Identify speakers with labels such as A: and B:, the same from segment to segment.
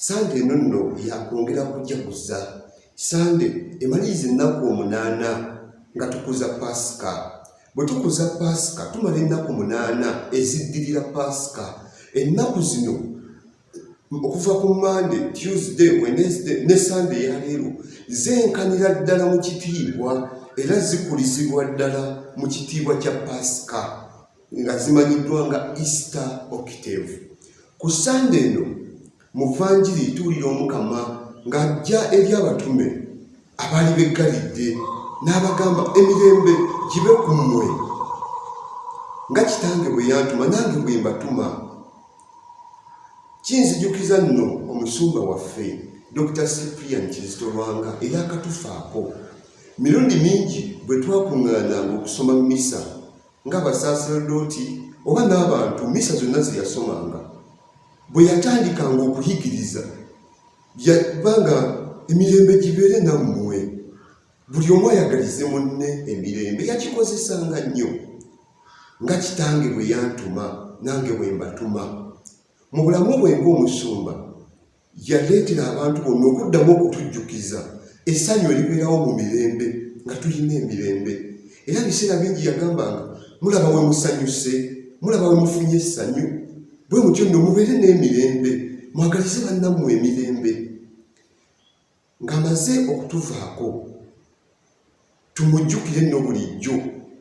A: sande eno nno yakwongera kujaguza sande emaliriza ennaku omunaana nga tukuza paasika bwe tukuza paasika tumala ennaku munaana eziddirira paasika ennaku zino okuva ku mande tuesday wednesday ne sande yaleero zenkanira ddala mu kitiibwa era zikulizibwa ddala mu kitiibwa kya pasika nga zimanyiddwa nga easter octave ku sande eno mu vanjiri tuwulira omukama ng'ajja eri abatume abaali beggalidde n'abagamba emirembe gibe ku mmwe nga kitange bwe yantuma nange bwe mbatuma kinzijukiza nno omusumba waffe dr cyprian kizito lwanga eyakatufaako mirundi mingi bwe twakuŋŋaananga okusoma misa ng'abasaaserodooti oba n'abantu misa zonna ze yasomanga bwe yatandikanga okuyigiriza yabanga emirembe gibeere nammwe buli omu ayagalize munne emirembe yakikozesanga nnyo nga kitange bwe yantuma nange bwe mbatuma mu bulamu bwe ng'omusumba yaleetera abantu bonna okuddamu okutujjukiza essanyu eribeerawo mu mirembe nga tulina emirembe era biseera bingi yagambanga mulaba we musanyuse mulaba we mufunye essanyu bwe mutyo nno mubeere n'emirembe mwagalize bannammwe emirembe ng'amaze okutuvaako tumujjukire nno bulijjo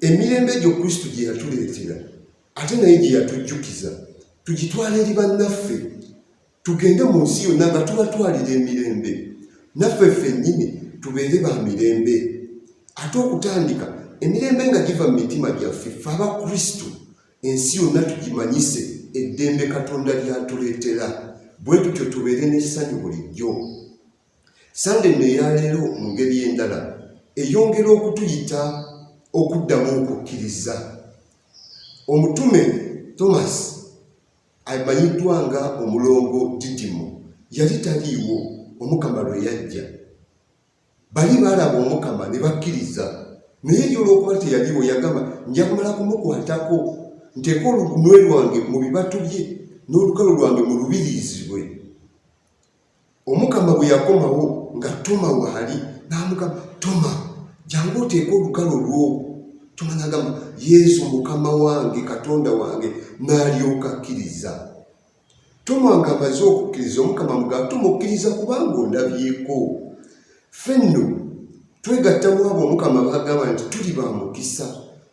A: emirembe egyo kristo gye yatuleetera ate naye gye yatujjukiza tugitwala eri bannaffe tugende mu nsi yonna nga tubatwalira emirembe naffe ffennyini tubeere ba mirembe ate okutandika emirembe nga giva mu mitima gyaffe fe aba kristo Ensi yonna tugimanyise eddembe Katonda ly'atuleetera, bwe tutyo tubeere n'essanyu bulijjo. Ssande eno eya leero mu ngeri endala eyongera okutuyita okuddamu okukkiriza. Omutume Thomas amanyiddwa nga omulongo Didimo yali taliiwo Omukama lwe yajja. bali baalaba omukama ne bakkiriza naye ye olwokuba teyaliwo yagamba nja kumala kumukwatako nteeka olugunwe lwange mu bibatu bye n'olukalo lwange mu lubiriizibwe omukama bwe yakomawo nga tuma waali n'amugamba tuma jangu oteeka olukalo lwo tuma n'agamba yesu mukama wange katonda wange n'alyoka akkiriza Toma nga amaze okukkiriza omukama mugamba tumukkiriza kubanga ondabyeko ffe nno twegattamu abo omukama bagamba nti tuli ba mukisa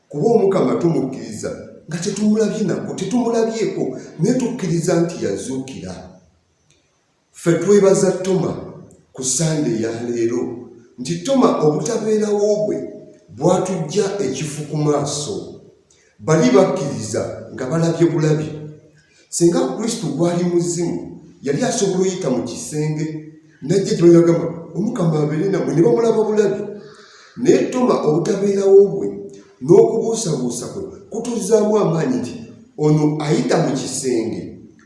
A: kuba omukama tumukkiriza nga tetumulabye nako tetumulabyeko naye tukkiriza nti yazuukira Ffe twebaza Toma ku Ssande ya leero nti Toma obutabeerawo bwe bwatuggya ekifu ku maaso. Bali bakkiriza nga balabye bulabi. Singa Kristo gwali muzimu, yali asobola oyita mu kisenge najja gye bagamba omukama abeere namwe ne bamulaba bulabi. Naye Toma obutabeerawo bwe n'okubuusabuusa kwe kutuzaamu amaanyi nti ono ayita mu kisenge.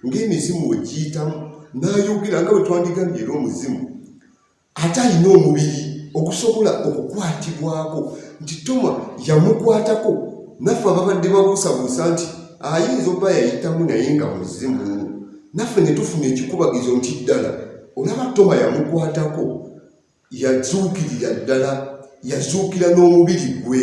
A: ng'emizimu we giyitamu n'ayogera nga bwe twandigambye era omuzimu ate alina omubiri okusobola okukwatibwako nti toma yamukwatako naffe ababadde babuusabuusa nti ayinza oba yayitamu naye nga muzimu naffe ne tufuna ekikubagizo nti ddala olaba toma yamukwatako yazuukirira ddala yazuukira n'omubiri gwe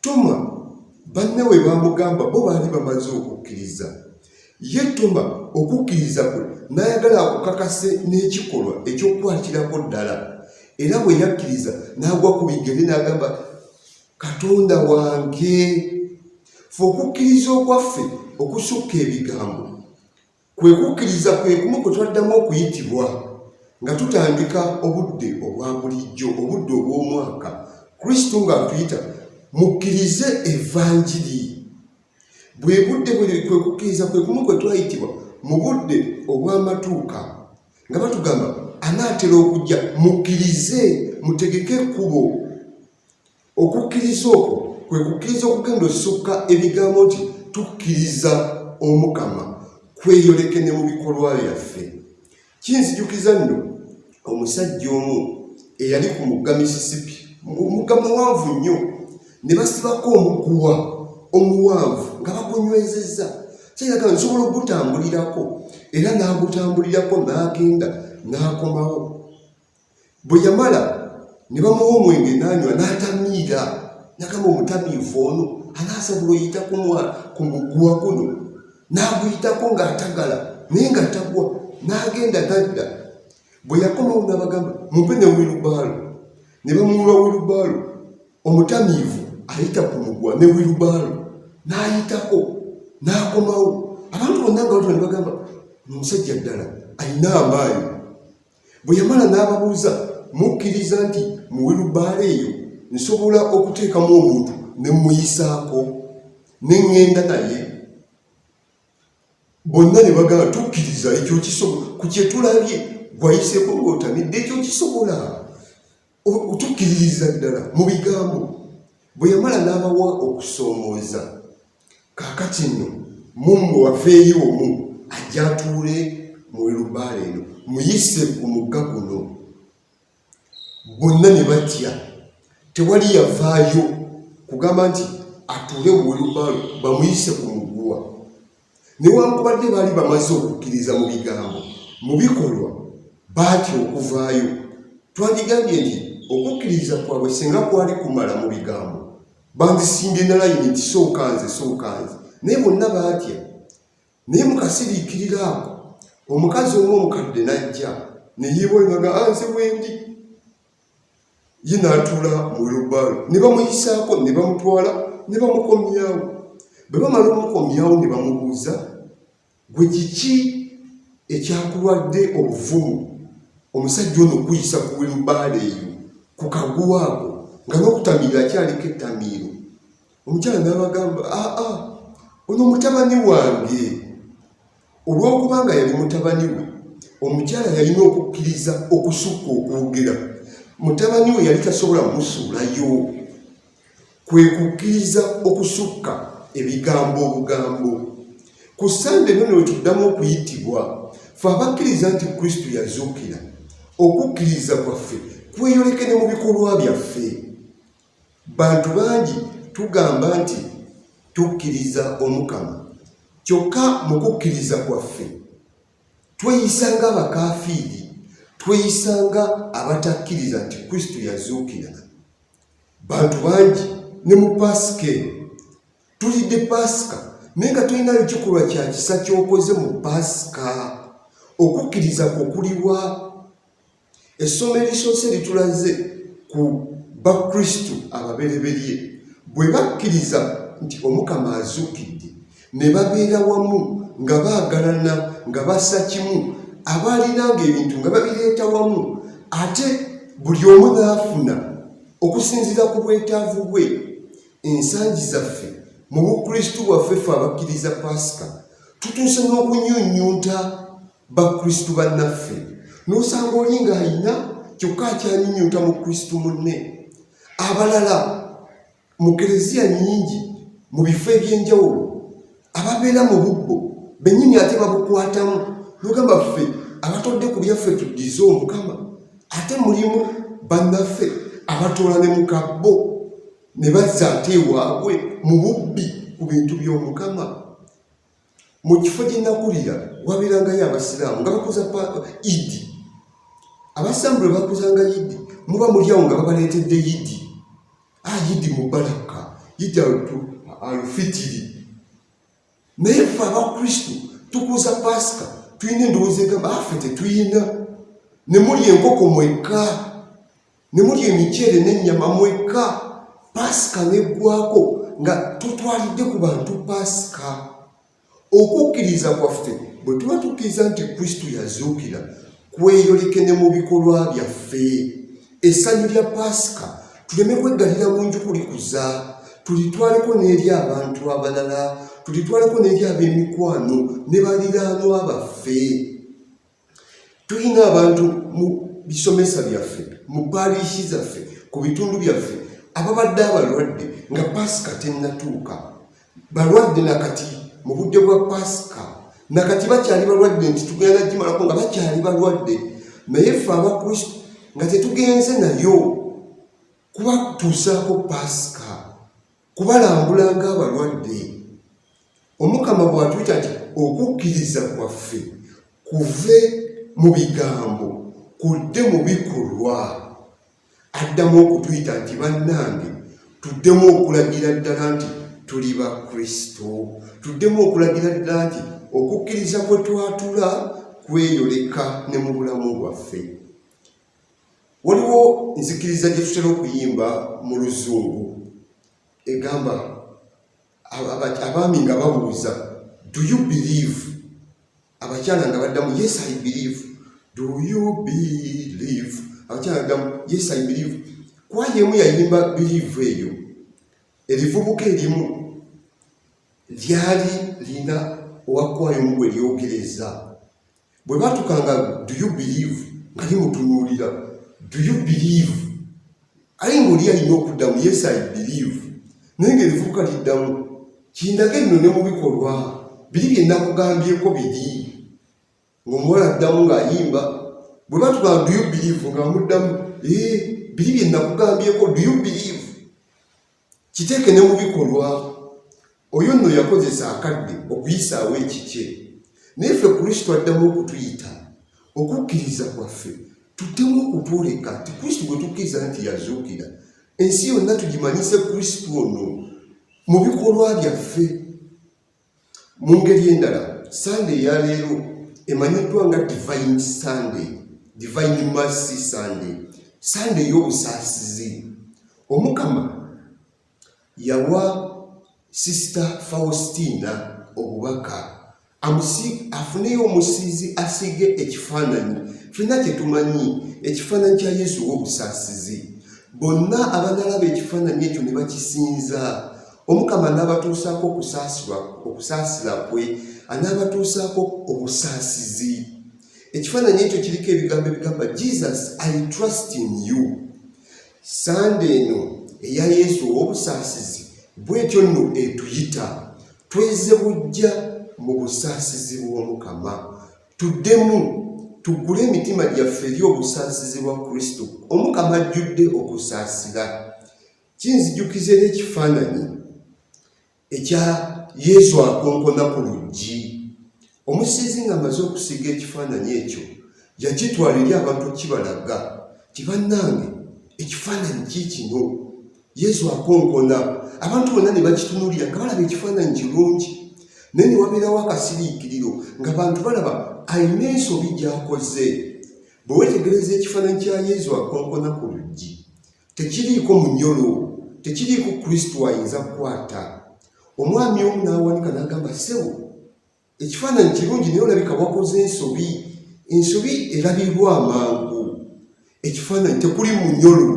A: Toma banne we baamugamba bo baali bamaze okukkiriza. Ye Toma okukkiriza kwe n'ayagala akukakase n'ekikolwa eky'okukwatiraako ddala. Era bwe yakkiriza n'agwa ku bigere n'agamba, Katonda wange! Fe okukkiriza okwaffe okusukka ebigambo Kwe kukkiriza kwe kumu kwe twaddamu okuyitibwa nga tutandika obudde obwa bulijjo, obudde obw'omwaka, Kristo ng'atuyita mukkirize evanjiri. Bwe budde bwe kwe kukkiriza kwe kumu kwe twayitibwa mu budde obw'amatuuka nga batugamba anaatera okujja, mukkirize mutegeke ekkubo. Okukkiriza okwo kwe kukkiriza okugenda osukka ebigambo nti tukkiriza omukama kweyoleke ne mu bikolwa byaffe kinzijukiza nno omusajja omu eyali ku mugga misisipi omugga muwanvu nnyo ne basibako omuguwa omuwanvu nga bagunywezezza kiraga nsobola okugutambulirako era n'agutambulirako n'agenda n'akomawo Bwe yamala ne bamuwa omwenge n'anywa n'atamiira nagamba omutamiivu ono anaasobola oyita ku muguwa guno n'aguyitako ng'atagala naye nga tagwa n'agenda nadda bwe yakomawo n'abagamba mumpe ne wirubaalo ne bamuwa wirubaalo omutamiivu ayita ku mugwa ne wirubaalo n'ayitako n'akomawo abantu bonna nga batone bagamba omusajja ddala alina amaanyi Bwe yamala n'ababuuza, mukkiriza nti mu wilubaala eyo nsobola okuteekamu omuntu ne mmuyisaako ne ŋŋenda naye? Bonna ne bagamba, tukkiriza ekyo kisobola, ku kye tulabye gw'ayiseeko ng'otamidde ekyo kisobola. otukiririza ddala mu bigambo bwe yamala n'abawa okusoomooza kaakati nno mummwe wafeeyo omu ajja atuule mu lubaala eno muyise ku mugga guno bonna ne batya tewali yavaayo kugamba nti atuule mu lubaalo bamuyise ku muguwa Newankubadde baali bamaze okukkiriza mu bigambo, mu bikolwa baatya okuvaayo. Twandigambye nti okukkiriza kwabwe singa kwali kumala mu bigambo, bandisimbye na layini nti sooka nze, sooka nze. Naye bonna baatya. Naye mu kasiriikiriro ako, omukazi omu omukadde n'ajja ne yeewaayo nga anze wendi. ye n'atuula mu wilubbaalo ne bamuyisaako ne bamutwala ne bamukomyawo bwe bamala omukomyawo ne bamubuuza gwe kiki ekyakulwadde obuvumu omusajja ono okuyisa ku wilubbaalo eyo ku kaguwa ako nga n'okutamiira akyaliko ettamiiro omukyala n'abagamba aa ah, ah, ono mutabani wange Olw'okuba nga yali mutabani we, omukyala yalina okukkiriza okusukka okwogera. Mutabani we yali tasobola musuulayo, kwe kukkiriza okusukka ebigambo obugambo. Ku ssande eno ne wetuddamu okuyitibwa, fe abakkiriza nti Kristo yazuukira, okukkiriza kwaffe kweyoleke ne mu bikolwa byaffe. Bantu bangi tugamba nti tukkiriza Omukama, kyokka mu kukkiriza kwaffe tweyisa ng'abakaafiiri, tweyisa nga abatakkiriza nti Kristo yazuukira. Bantu bangi ne mu Paasika eno tulidde Paasika naye nga tulinayo kikolwa kya kisa ky'okoze mu Paasika. Okukkiriza kwo kuliwa? Essomo erisoose litulaze ku bakristu ababereberye bwe bakkiriza nti omukama azuukidde ne babeera wamu nga baagalana nga bassa kimu abaalinanga ebintu nga babireeta wamu ate buli omu n'afuna okusinziira ku bwetaavu bwe ensangi zaffe mu bukristu bwaffe fe abakkiriza paasika tutuuse n'okunyunyunta bakristu bannaffe n'osanga oli ng'alina kyokka akyanyunyunta mu kristu munne abalala mu kereziya nnyingi mu bifo eby'enjawulo ababeera mu bubbo bennyini ate babukwatamu nogamba ffe abatodde ku byaffe tuddize omukama ate mulimu bannaffe abatoola ne mu kabbo ne bazza ate ewaabwe mu bubbi ku bintu by'omukama mu kifo gye nakulira wabeerangayo abasiraamu nga bakuza idi abasiraamu bwe bakuzanga idi muba mulyawo nga babaleetedde idi a ah, idi mubalaka idi alufitiri naye fe abakristu tukuza pasika tulina endowooza egamba afe ah, tetuyina ne muli enkoko mwekka ne mulya emiceere n'ennyama mwekka paasika n'eggwako nga tutwalidde ku bantu paasika okukkiriza kwaffe bwe tuba tukkiriza nti kristo yazuukira kweyoleke ne mu bikolwa byaffe essanyu lya paasika tuleme kweggalira mu nju kulikuza tulitwaleko n'eri abantu abalala tulitwaleko n'eri ab'emikwano ne baliraanwa baffe tulina abantu mu bisomesa byaffe mu paaliishi zaffe ku bitundu byaffe ababadde abalwadde nga paasika tennatuuka balwadde nakati mu budde bwa paasika nakati bakyali balwadde nti tugenda gimalako nga bakyali balwadde naye ffe abakristo nga tetugenze nayo kubatuusaako paasika kubalambula ng'abalwadde omukama bw'atuyita nti okukkiriza kwaffe kuve mu bigambo kudde mu bikolwa addamu okutuyita nti bannange tuddemu okulagira ddala nti tuli ba kristo tuddemu okulagira ddala nti okukkiriza kwe twatula kweyoleka ne mu bulamu bwaffe Waliwo nzikiriza gye tutera okuyimba mu luzungu egamba abaami nga babuuza do you believe abakyala nga baddamu yes i believe do you believe abakyala baddamu yes i believe kwaya emu yayimba believe eyo erivubuka erimu lyali lina owakwaya omu gwe lyogereza bwe batukanga do you believe nga limutunuulira do you believe aye ngaoli alina okuddamu yes i believe naye nga ebivubuka liddamu kindaga enno ne mu bikolwa biri byenakugambyeko biri ngaomuwala addamu ng'ayimba bwe batugamba do you believe nga muddamu ee eh, biri byenakugambyeko do you believe Kiteeke ne mu bikolwa. Oyo nno yakozesa akadde okuyisaawo ekikye, naye ffe Kristo addamu okutuyita. Okukkiriza kwaffe tuddemu okutwoleka nti Kristo gwe tukkiriza nti yazuukira, ensi yonna tugimanyise Kristo ono mu bikolwa byaffe. Mu ngeri endala, Ssande eya leero emanyiddwa nga Divine Sunday, Divine Mercy Sunday, Ssande ey'obusaasizi. Omukama yawa Sisita Faustina obubaka afuneyo omusiizi asiige ekifaananyi fenna kye tumanyi ekifaananyi kya Yesu w'obusaasizi. Bonna abanalaba ekifaananyi ekyo ne bakisinza Omukama anaabatuusaako okusaasirwa okusaasira kwe, anaabatuusaako obusaasizi. Ekifaananyi ekyo kiriko ebigambo ebigamba Jesus I trust in you. Sande eno eya Yesu ow'obusaasizi bwetyo nno etuyita tweze bujja mu busaasizi bw'Omukama, tuddemu tuggule emitima gyaffe eri obusaasizi bwa Kristo. Omukama ajjudde okusaasira. Kinzijukiza era ekifaananyi ekya Yesu akonkona ku luggi. Omusiizi ng'amaze okusiiga ekifaananyi ekyo, yakitwala eri abantu okukibalaga nti bannange ekifaananyi kiikino Yesu akonkona. Abantu bonna ne bakitunulira nga balaba ekifaananyi kirungi, naye ne wabeerawo akasiriikiriro ng'abantu balaba alina ensobi gy'akoze. Bwe weetegereza ekifaananyi kya Yesu akonkona ku luggi, Tekiriiko munyolo, tekiriiko Kristo ayinza kukwata. Omwami omu n'awanika n'agamba, ssebo, ekifaananyi kirungi naye olabika wakoze ensobi. Ensobi erabirwa amangu. Ekifaananyi tekuli munyolo,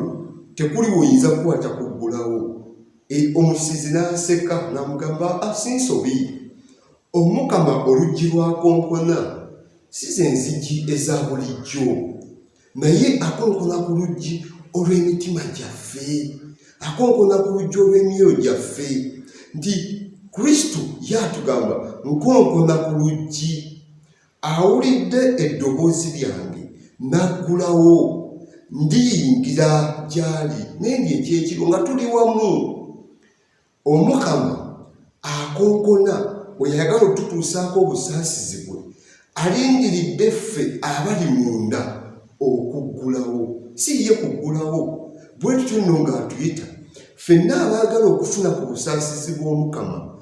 A: tekuli woyinza kukwata kuggulawo. E, omusizi n'aseka n'amugamba, ah, si nsobi. Omukama oluggi lwakonkona, si ze nzigi eza bulijjo. naye akonkona ku luggi olw'emitima gyaffe akonkona ku luggi olw'emyoyo gyaffe nti kristo yatugamba nkonkona ku luggi awulidde eddoboozi lyange naggulawo ndiyingira gyali nendye ekyekiro nga tuli wamu Omukama akonkona oyo ayagala okututuusaako obusaasizi bwe, alindiridde ffe abali munda okuggulawo, si ye kuggulawo. Bwe tutyo nno ng'atuyita, ffenna abaagala okufuna ku busaasizi bw'Omukama,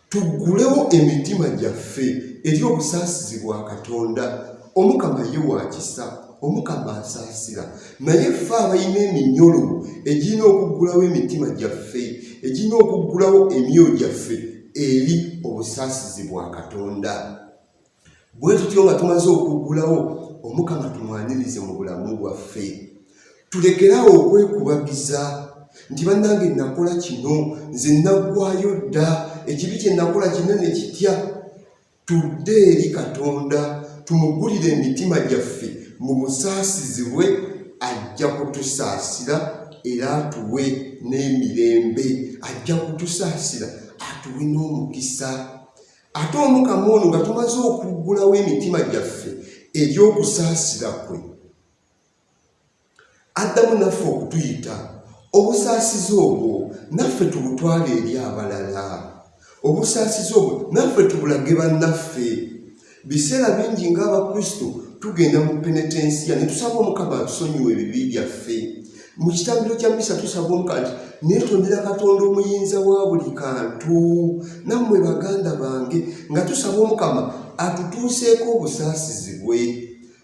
A: tuggulewo emitima gyaffe eri obusaasizi bwa Katonda. omukama ye wa kisa omukama asaasira naye ffe abalina eminyolo egirina okuggulawo emitima gyaffe egirina okuggulawo emyoyo gyaffe eri obusaasizi bwa katonda bwe tutyo nga tumaze okuggulawo omukama tumwanirize mu bulamu bwaffe tulekerawo okwekubagiza nti bannange nakola kino nze naggwayo dda ekibi kye nakola kinene kitya Tudde eri Katonda tumugulire emitima gyaffe mu busaasizi bwe ajja kutusaasira era atuwe n'emirembe ajja kutusaasira atuwe n'omukisa ate omukama ono nga tumaze okuggulawo emitima gyaffe eri okusaasira kwe addamu naffe okutuyita obusaasizi obwo naffe tubutwale eri abalala obusaasizi obwo naffe tubulage bannaffe biseera bingi ng'abakristo tugenda mu penetensiya ne tusaba omukama atusonyiwa ebibi byaffe mu kitambiro kya misa tusaba omuka nti netondera katonda omuyinza wa buli kantu nammwe baganda bange nga tusaba omukama atutuuseeko obusaasizi bwe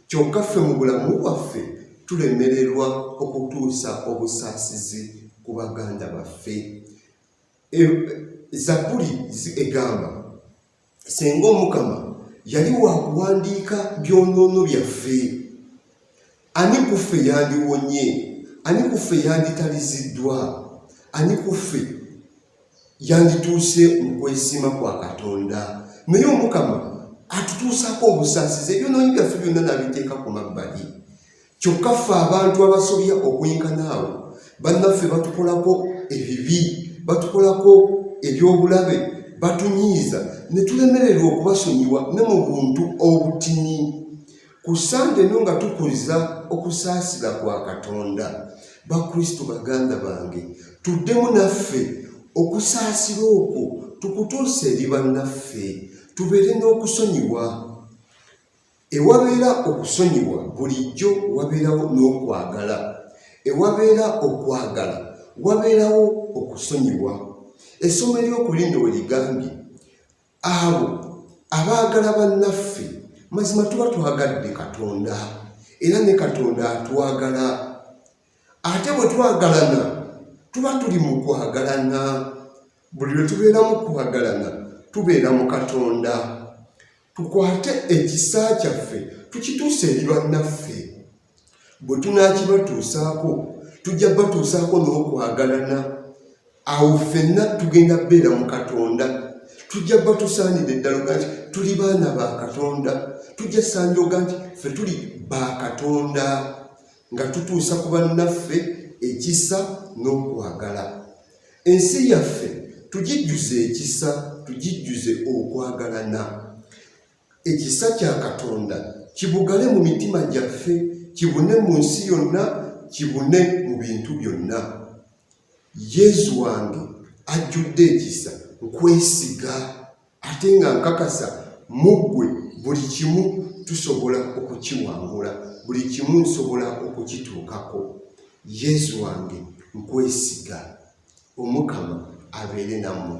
A: Kyokka ffe mu bulamu bwaffe tulemererwa okutuusa obusaasizi ku baganda baffe. E, Zabbuli egamba senga Omukama yali wa kuwandiika byonoono byaffe, ani ku ffe yandiwonye? Ani ku ffe yanditaliziddwa? Ani ku ffe yandituuse mu kwesiima kwa katonda naye omukama atutuusaako obusaasizi ebyonoonyi byaffe byonna nabiteeka ku mabbali kyokka ffe abantu abasobya okwenkanaawo bannaffe batukolako ebibi batukolako ebyobulabe batunyiiza ne tulemererwa okubasonyiwa ne mu buntu obutini Ku Ssande eno nga tukuliza okusaasira kwa Katonda, Bakristo baganda bange, tuddemu naffe okusaasira okwo tukutuuse eri bannaffe, tubeere n'okusonyiwa. Ewabeera okusonyiwa, bulijjo wabeerawo n'okwagala. Ewabeera okwagala, wabeerawo okusonyiwa. Essomo ery'oku lino we ligambye, Abo abaagala bannaffe mazima tuba twagadde Katonda era ne Katonda atwagala. Ate bwe twagalana tuba tuli mu kwagalana. Buli lwe tubeera mu kwagalana tubeera mu Katonda. Tukwate ekisa kyaffe tukituuse eri bannaffe. Bwe tunaakibatuusaako, tujja kubatuusaako n'okwagalana. Awo ffenna tugenda kubeera mu Katonda. Tujja kuba tusaanidde ddala oga nti tuli baana ba Katonda. Tujja saanidde oga nti ffe tuli ba Katonda nga tutuusa ku bannaffe ekisa n'okwagala. Ensi yaffe tugijjuze ekisa, tugijjuze okwagalana. Ekisa kya Katonda kibugale mu mitima gyaffe, kibune mu nsi yonna, kibune mu bintu byonna. Yezu wange ajjudde ekisa, nkwesiga ate nga nkakasa mu ggwe buli kimu tusobola okukiwangula, buli kimu nsobola okukituukako. Yezu wange nkwesiga. Omukama abeere nammwe.